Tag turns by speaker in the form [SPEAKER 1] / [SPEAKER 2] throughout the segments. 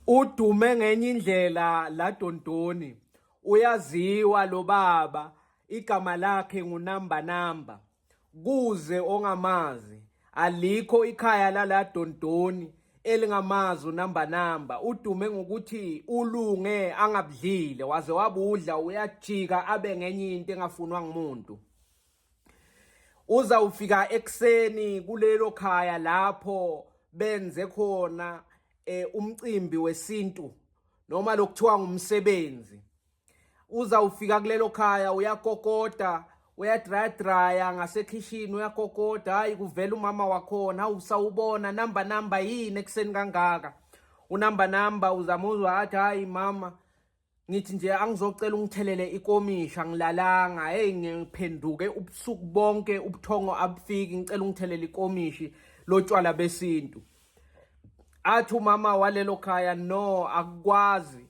[SPEAKER 1] Udume ngenye indlela la Dondoni. Uyaziwa lo baba, igama lakhe ngunamba namba. Kuze ongamazi, alikho ikhaya lala Dondoni elingamazi unamba namba. Udume ngokuthi ulunge angabudlile waze wabudla uyajika abe ngenye into engafunwa ngumuntu. uzawufika ekuseni kulelo khaya lapho benze khona eh, umcimbi wesintu noma lokuthiwa ngumsebenzi uzawufika kulelo khaya uyakokoda uyadrayadraya ngasekhishini uyakokoda hayi kuvela umama wakhona usawubona namba namba yini ekuseni kangaka unamba namba uzamuzwa athi hayi mama ngithi nje angizocela ungithelele ikomisha ngilalanga hey ngiphenduke ubusuku bonke ubuthongo abufiki ngicela ungithelele ikomishi lotshwala besintu athi umama walelo khaya no akukwazi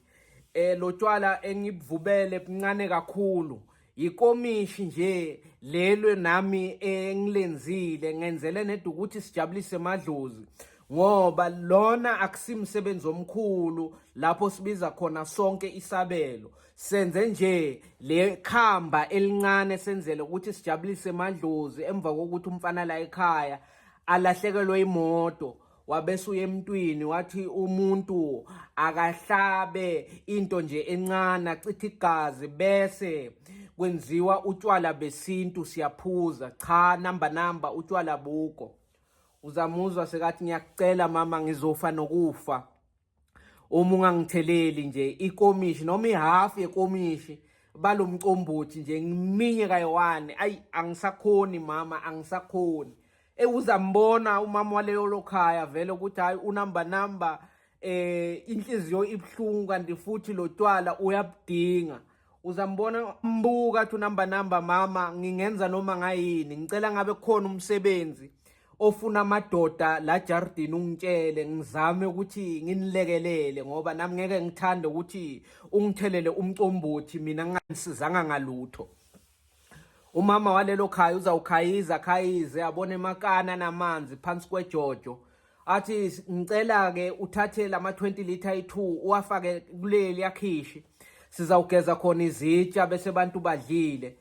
[SPEAKER 1] eh lotshwala engibuvubele buncane kakhulu Yikomishi nje lelwe nami engilenzile ngenzele neda ukuthi sijabulise madlozi ngoba lona akusimsebenzi omkhulu lapho sibiza khona sonke isabelo senze nje le khamba elincane senzele ukuthi sijabulise madlozi emva kokuthi umfana la ekhaya alahlekelwe imoto wabese uye emntwini wathi umuntu akahlabe into nje encane achithe igazi bese kwenziwa utshwala besintu siyaphuza cha namba namba utshwala buko uzamuzwa sekathi ngiyakucela mama ngizofa nokufa uma ungangitheleli nje ikomishi noma ihafu yekomishi balomcombothi nje ngiminye kayiwani ayi angisakhoni mama angisakhoni ewuzambona umama waleyo lokhaya vele ukuthi hayi unumber number eh inhliziyo ibuhlungu kanti futhi lotwala uyabudinga uzambona mbuka athi unamba namba mama ngingenza noma ngayini ngicela ngabe khona umsebenzi ofuna amadoda la jardini ungitshele ngizame ukuthi nginilekelele ngoba nami ngeke ngithande ukuthi ungithelele umcombothi mina nginganisizanga ngalutho Umama walelo khaya uzawukhayiza khayize abone makana namanzi phansi kwejojo athi ngicela ke uthathe lama 20 liter i2 uwafake kuleli yakhishi sizawugeza khona izitsha bese abantu badlile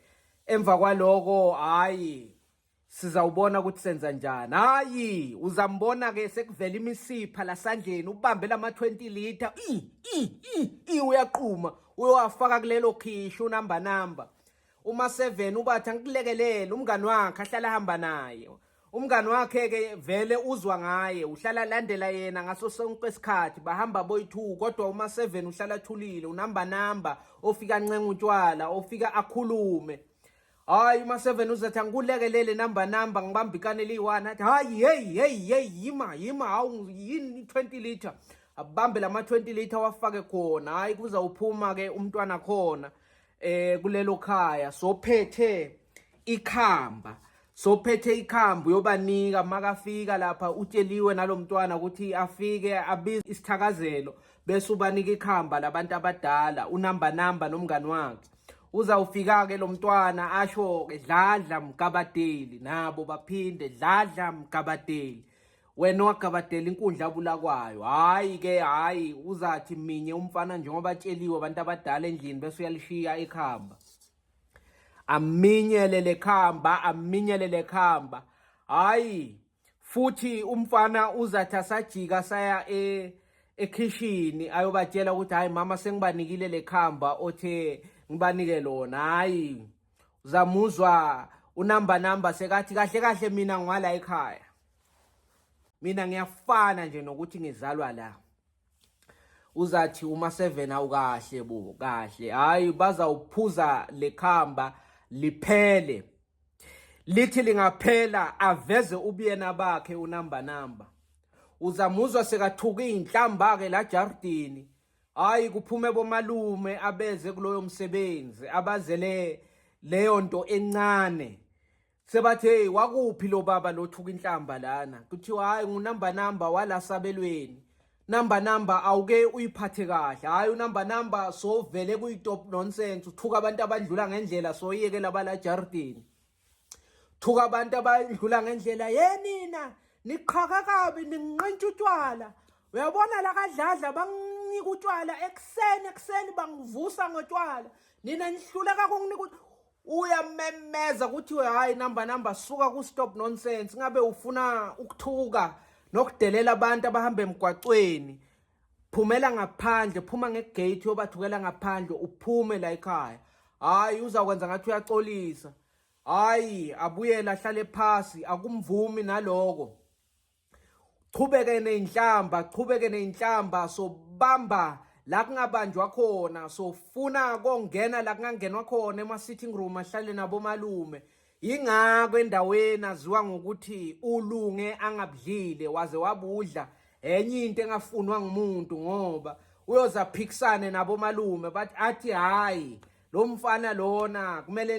[SPEAKER 1] emva kwaloko hayi Sizawubona ukuthi senza njani. Hayi, uzambona ke sekuvela imisipha lasandleni ubambe lama 20 liter. I i i i uyaqhuma. Uyowafaka kulelo khishu number number. Uma 7 ubathi angikulekelele umngani wakhe ahlala hamba naye. Umngani wakhe ke vele uzwa ngaye, uhlala landela yena ngaso sonke isikhathi. Bahamba boy 2 kodwa uma 7 uhlala thulile, unamba namba, ofika ncenga utshwala, ofika akhulume. hayi uma-seven uzethi angikulekelele namba namba ngibamba ikane eliyi-one athi hayi heyi heyi heyi yima yima hawu yini i-twenty litre abambe la ma-twenty litre wafake khona hhayi kuzawuphuma-ke umntwana khona eh kulelo khaya sophethe ikhamba sophethe ikhamba uyobanika makafika lapha utsheliwe nalomntwana ukuthi afike abize isithakazelo bese ubanika ikhamba labantu abadala unamba namba nomngani wakhe uzawufika-ke lo mntwana asho-ke dladla mgabadeli nabo baphinde dladla mgabadeli wena wagabadela inkundla abulakwayo hhayi ke hhayi uzathi minye umfana njengoba atsheliwe abantu abadala endlini bese uyalishiya ikhamba aminyelele khamba aminyelele khamba hhayi futhi umfana uzathi asajika saya e ekhishini ayobatshela ukuthi hayi mama sengibanikile lekhamba othe ngibanike lona hayi uzamuzwa unamba namba sekathi kahle kahle mina ngwala ekhaya mina ngiyafana nje nokuthi ngizalwa la uzathi uma seven awukahle bo kahle hayi bazawuphuza lekhamba liphele lithi lingaphela aveze ubuyena bakhe unamba namba uzamuzwa sekathuka izinhlamba ke la jardini hayi kuphume bomalume abeze kuloyo msebenzi abazele leyo nto encane sebathi hey wakuphi lo baba lothuka inhlamba lana kuthiwa hayi ngunumber number wala sabelweni number number awuke uyiphathe kahle hayi unumber number so vele kuyitop nonsense uthuka abantu abadlula ngendlela so yeke laba la jardini thuka abantu abadlula ngendlela yenina niqhaka kabi ninqintsha utshwala uyabona la kadladla banginika utshwala ekuseni ekuseni bangivusa ngotshwala nina nihluleka kunginika uyamemeza kuthiwe hayi namba namba suka ku stop nonsense ngabe ufuna ukuthuka nokudelela abantu abahamba emgwacweni phumela ngaphandle phuma ngegate yobathukela ngaphandle uphume la ekhaya hayi uzakwenza ngathi uyaxolisa hayi abuyele ahlale phasi akumvumi naloko Qhubeke ney'nhlamba, qhubeke ney'nhlamba, sobamba la kungabanjwa khona, sofuna kongena la kungangenwa khona ema-sitting room ahlale nabomalume. Yingakho endaweni aziwa ngokuthi ulunge angabudlile waze wabudla enye into engafunwa ngumuntu ngoba uyoze aphikisane nabomalume bathi athi hhayi lo mfana lona kumele